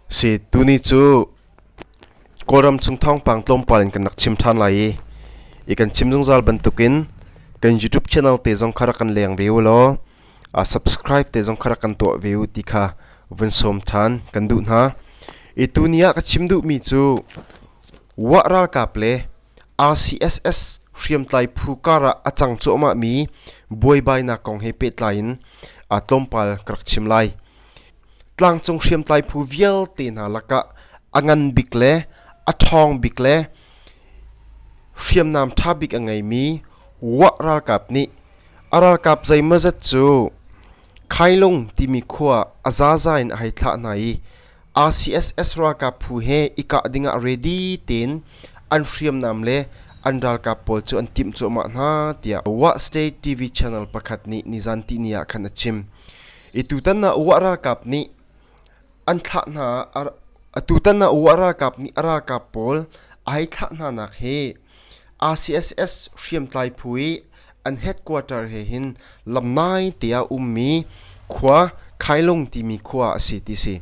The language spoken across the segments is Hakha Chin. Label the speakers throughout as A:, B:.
A: Si tuni cu Kawlram chung thawngpang tlawmpal in kan rak chim ṭhan lai i i kan chim zungzal bantukin kan YouTube channel te zong kha rak kan leng ve u law a subscribe te zong kha rak kan tuah ve u ti kha vun sawm ṭhan kan duh hna i tuni ah ka chim duhmi cu Wah ralkap le RCSS hriamtlai phu kar ah a cang cuahmah mi buaibainak kong he pehtlai in aa tlawmpal ka rak chim lai. Tlangcung hriamtlai phu vialte hna lakah a ngan bik le a ṭhawng bik le hriamnam ṭha bik a ngei mi Wah ralkap nih a ralkap zeimawzet cu Khailung timi khua ah a zaza in a hei thlah hna i RCSS ralkap phu he i kah dingah ready tein an hriamnam le an ralkap pawl cu an timh cuahmah hna, tiah Wah State TV channel pakhat nih nizan tihni ah khan a chim. I tutan ah Wah ralkap nih an thlah hna a tutan ah Wah ralkap nih a ralkap pawl a hei thlah hnanak hi RCSS hriamtlai phu i an headquarter he hin lam nai te ah ummi khua Khailung timi khua a si ti si.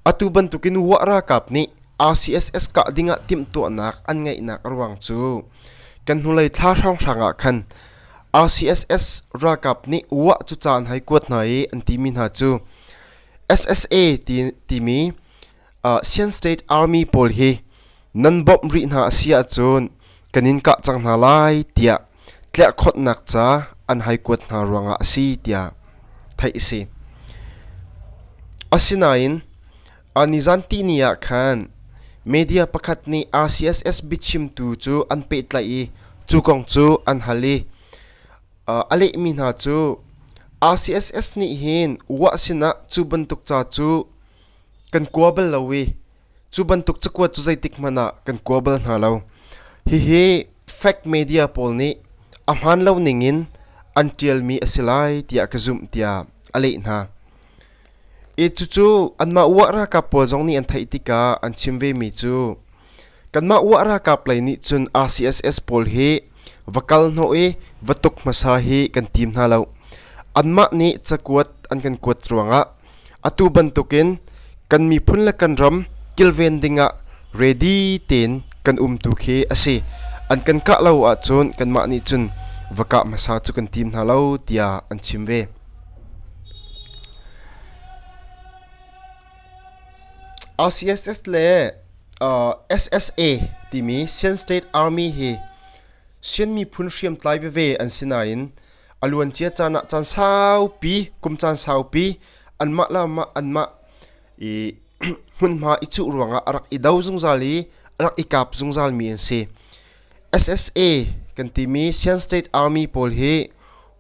A: Atu bantukin wah ralkap nih RCSS kah ding ah timhtuahnak an ngeihnak a ruang cu kan hnulei thla hrawnghrang ah khan RCSS ralkap nih wah cu caan hai kuat hna i an timi hna cu SSA ti, timi Chin State Army pawl hi nan bawmh rih hna a si ahcun kan in kah cang hna lai tiah tlerhkhawtnak ca an hei kuat hna ruangah a si tiah theih a si. Asinain nizanti ni ah khan media pakhat nih RCSS biachimtu cu an pehtlaih i cu kong cu an hal i a lehmi hna cu RCSS nih hin uah sinah cu bantuk ca cu kan kua bal lo i cu bantuk cakuat cu zeitik hmanh ah kan kua bal hna lo. Hihi fact media pawl nih a hmaan lo ning in an ṭialmi a si lai tiah ka zumh tiah a leh hna. E cucu anmah uah ralkap pawl zong nih an theih tikah an chim vemi cu Kanmah UA ralkap lei nih cun RCSS pawl hi va kal hnawh i va tuk hmasa hi kan tim hna lo. Anmah nih cakuat an kan kuat ruangah atu bantukin kan miphun le kan ram kilven dingah ready tein kan um tu khi a si. An kan kah lo ahcun kanmah nih cun va kah hmasa cu kan tim hna lo tiah an chim ve. RCSS le SSA timi Sien State Army hi Sien miphun hriamtlai veve an si nain a luancia caan ah caan saupi kum caan saupi anmah le mah anmah i hmunhma i cuh ruangah a rak i do zungzal i a rak i kap zungzalmi an si. SSA kan timi Sian State Army pawl hi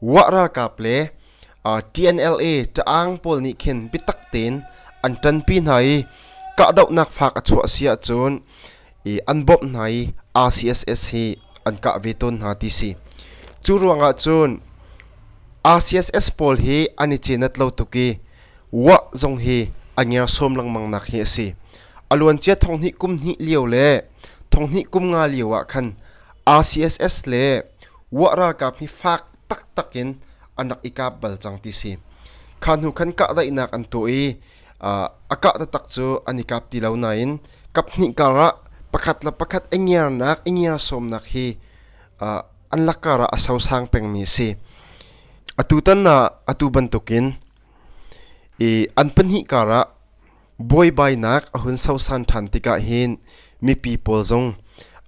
A: Wah ralkap le TNLA taang pawl nih khin biatak tein an ṭanpi hna i kahdohnak faak a chuah si ahcun i an bawmh hna i RCSS hi an kah ve tawn hna ti si. Cu ruangah cun RCSS pawl hi an i cenat lo tuk i Wah zong hi a ngersawm lengmang nak hi a si. A luancia thong hnih kum hnih lio le Thonghnih kum nga lio ah khan RCSS le Wah ralkap hi fak taktak in an rak i kap bal cang ti si. Kha hnu khan kahdaihnak an tuah i a kah tatak cu an i kap ti lo nain kap hnih kar ah pakhat le pakhat i ngiarnak i ngiar sawmnak hi an lakar ah a sosang pengmi a si. Atu tan ah atu bantukin i an pahnih kar ah Buaibainak a hun sosan ṭhan tikah hin mipi pawl zong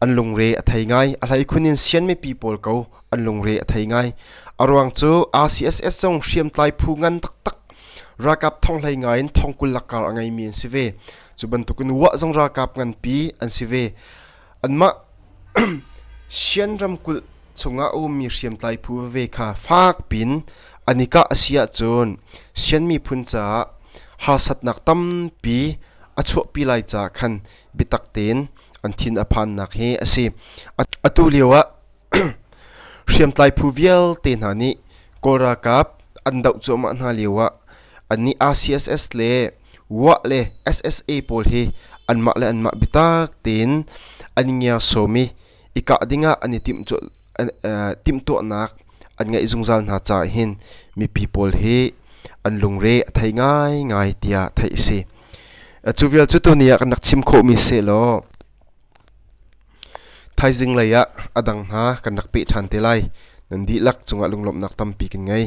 A: an lungre a thei ngai. A hleikhun in sian mipi pawl ko an lungre a thei ngai. A ruang cu RCSS zong hriamtlai phu ngan taktak ralkap thong hlei ngai in thong kul lakkar a ngeimi an si ve. Cu bantukin Wah zong ralkap nganpi an si ve. Anmah Shan ramkulh chungah a ummi hriamtlai phu veve kha fak piin an i kah a si ahcun Shan miphun caah harsatnak tampi a chuahpi lai caah khan biatak tein an thin a phannak hi a si. Atu lio ah hriamtlai phu vialte hna nih Kawl ralkap an doh cuahmah hna lio ah annih RCSS le WAH le SSA pawl hi anmah le anmah biatak tein an i ngersom i i kah dingah an i timhtuahnak an ngeih zungzal hna caah hin mipi pawl hi an lungre a thei ngaingai tiah theih a si. Cu vial cu tuni ah kan rak chim khawhmi sehlaw thaizing lei ah a dang hna kan rak peh ṭhan te lai nan dihlak cungah lunglawmhnak tampi kan ngei.